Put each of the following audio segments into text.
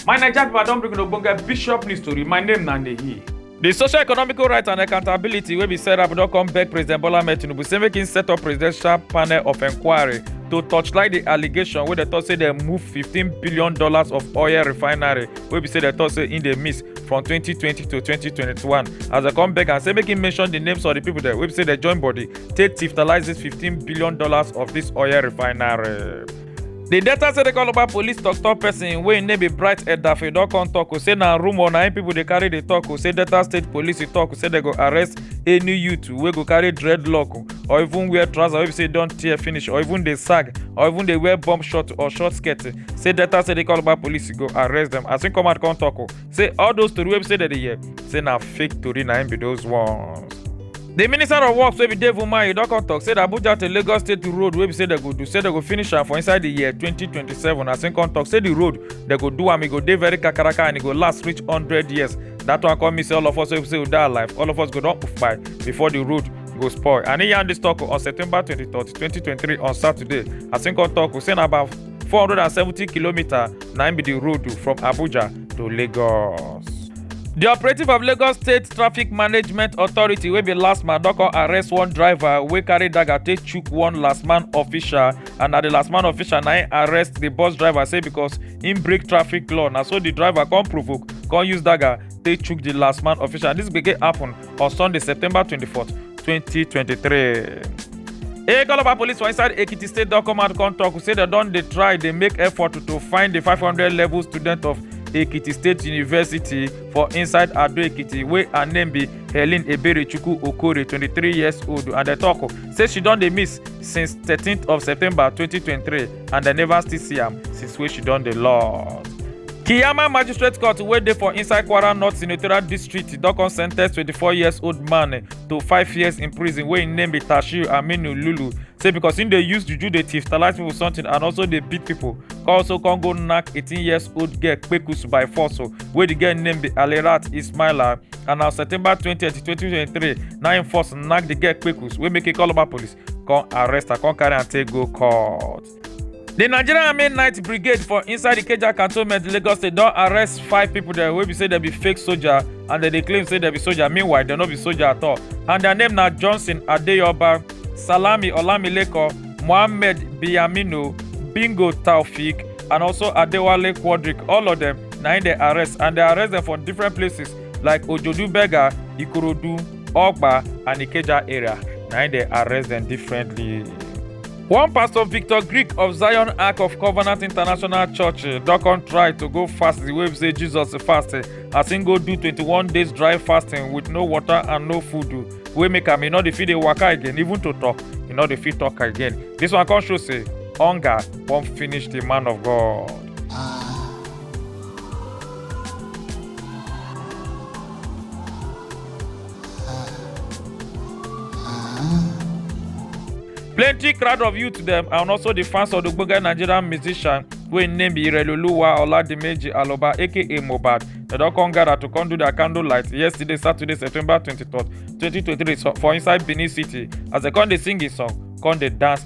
My Naija people, I don bring una ogbonge bishop news tori. My name na Nehi. The social economical rights and accountability wey be set up don come beg President Bola Ahmed Tinubu say make im set up presidential panel of inquiry to torchlight the allegation wey dem talk say dem move fifteen billion dollars of oil refinery wey be say dem talk say im dey miss from 2020 to 2021 as dem come beg am say make im mention di names of di pipo dem wey be say dem join body take tiftalise $15 billion of dis oil refinery. di delta state calabar police tok-tok pesin wey im name be bright edafe don come tok say na rumour na im pipo dey carry dey tok say delta state police tok say dem go arrest any youth wey go carry dreadlock or even wear trouser wey be say don tear finish or even dey sag or even dey wear bomb short or short skirt say delta say dey call about police go arrest dem as im come out come tok o say all those tori wey be say dem dey hear say na fake tori na im be those ones. di minister of works wey be dave umahi don come tok say di abuja to lagos state road wey be say dem go do say dem go finish am for inside di year 2027 as im come tok say di road dem go do am e go dey very kakaraka and e go last reach 100 years dat one come mean say all of us wey be say we dey alive all of us go don kpai before di road go spoil and e yarn dis tok on september 23 2023 on saturday as im come tok say na about 470 kilometer na im be di road from abuja to lagos. di operative of lagos state traffic management authority wey be last man don come arrest one driver wey carry dagger take chook one last man official and na di last man official na im arrest di bus driver say because im break traffic law na so di driver come provoke come use dagger take chook di last man official dis gbege happun on sunday september 24 2023 Ekoloba police for inside Ekiti state don come out come talk say dem don dey try dey make effort to find the 500 level student of Ekiti State University for inside Ado Ekiti wey her name be Helen Eberechukwu Okore 23 years old and dem talk say she don dey miss since 13th of September 2023 and dem never still see am since wey she don dey lost. Kiyama Magistrate Court wey dey for inside Kwara North Senatorial District don come sentence 24 years old man to five years in prison wey im name be Tashir Aminu Lulu say because im dey use juju dey thiefstalize people something and also dey beat people come also come go knack 18 years old girl kpekus by force o wey the girl name be Alirat Ismaila and na September 20, 2023 na im force knack the girl kpekus wey make e call Oba police come arrest her come carry am take go court. di nigerian army night brigade for inside ikeja cantonment lagos state don arrest five pipo dem wey be say dem be fake soldier and dem dey claim say dem be soldier meanwhile dem no be soldier at all and dia name na johnson adeyoba salami olamileko mohammed biyamino bingo taofik and also adewale quadric all of dem na im dem arrest and dem arrest dem for different places like ojodu berger ikorodu Ogba and Ikeja area na im dey arrest dem differently. One pastor Victor Greek of Zion Ark of Covenant International Church eh, don come try to go fast the way be say Jesus fast eh, as im go do 21 days dry fasting with no water and no food oh, wey make am e no dey fit dey waka again even to talk e no dey fit talk again. This one come show say hunger wan finish the man of God. plenty crowd of youth dem and also di fans of di ogbonge nigerian musician wey im name be ireloluwa oladimeji aloba aka mohbad dem don come gather to come do their candle light yesterday saturday september 23 2023 so- for inside benin city as dem come dey sing im song come dey dance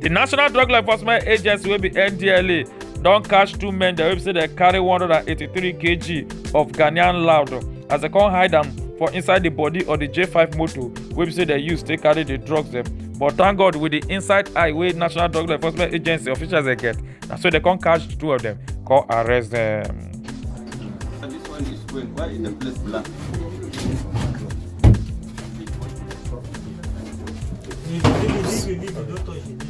di national drug law enforcement agency wey be ndla don catch two men dem wey be say dem carry 183 kg of ghanaian loud as dem come hide am for inside di body of di j5 motor wey be say dem use take carry di drugs dem but thank god with di inside eye wey national drug law enforcement agency officials dey get na so dem come catch the two of dem come arrest dem. And this one is when? Why is the place black? Leave it, leave it, leave it, leave it. Don't touch it.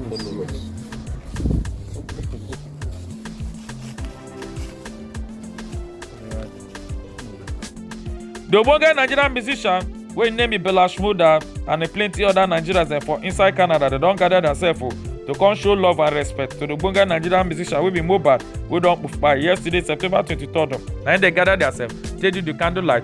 Leave it. The ogbonge Nigerian musician wey im name be Bella Shmurda and e plenty other Nigerians dem for inside Canada dem don gather themselves o to come show love and respect to the ogbonge Nigerian musician wey be Mohbad wey don kpai yesterday September 23rd. Na im dem gather themselves take do the candlelight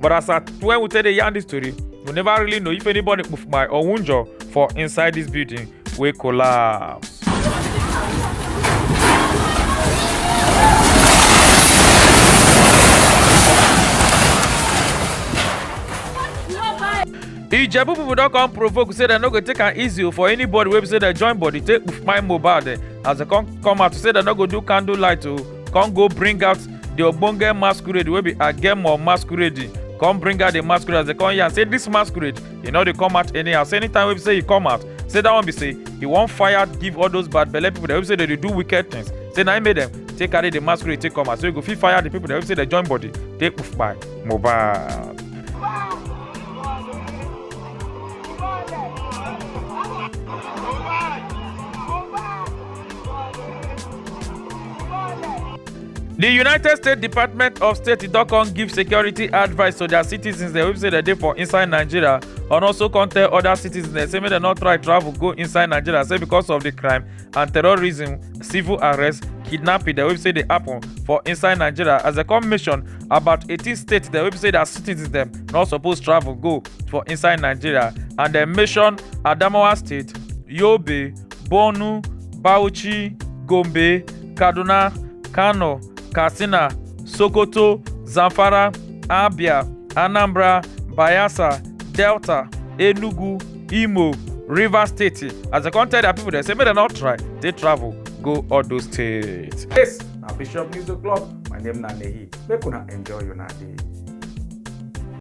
but as at when we take dey yarn this story we never really know if anybody poof my or wunjọ for inside this building wey collapse. ijebu pipo don come provoke say dem no go take am easy for anybody wey be say dem join body take kpuf my mohbad as dem come come out to say dem no go do candle light o come go bring out the ogbonge masquerade wey be agemo masquerade come bring out the masquerade as they come here and say this masquerade e no dey come out anyhow say anytime wey be say e come out say that one be say e wan fire give all those bad belle people dem wey say dey dey do wicked things say na im make dem take carry the masquerade take come out so e go fit fire the people dem wey say dey join body take poof by mohbad. di united states department of state don come give security advice to dia citizens dem wey be say dem dey for inside nigeria and also come tell oda citizens dem say make dem no try travel go inside nigeria say because of di crime and terrorism civil arrest kidnapping dem wey be say dey happen for inside nigeria as dem come mention about 18 states dem wey be say dia citizens dem no suppose travel go for inside nigeria and dem mention adamawa state yobe Borno, Bauchi, Gombe, Kaduna, Kano, Katsina, Sokoto, Zamfara, Abia, Anambra, Bayelsa, Delta, Enugu, Imo, Rivers State. As I come tell their people, they say make dem not try take travel go all those states. Yes, na Bishop News O'Clock. My name na Nehi. Make una enjoy una day.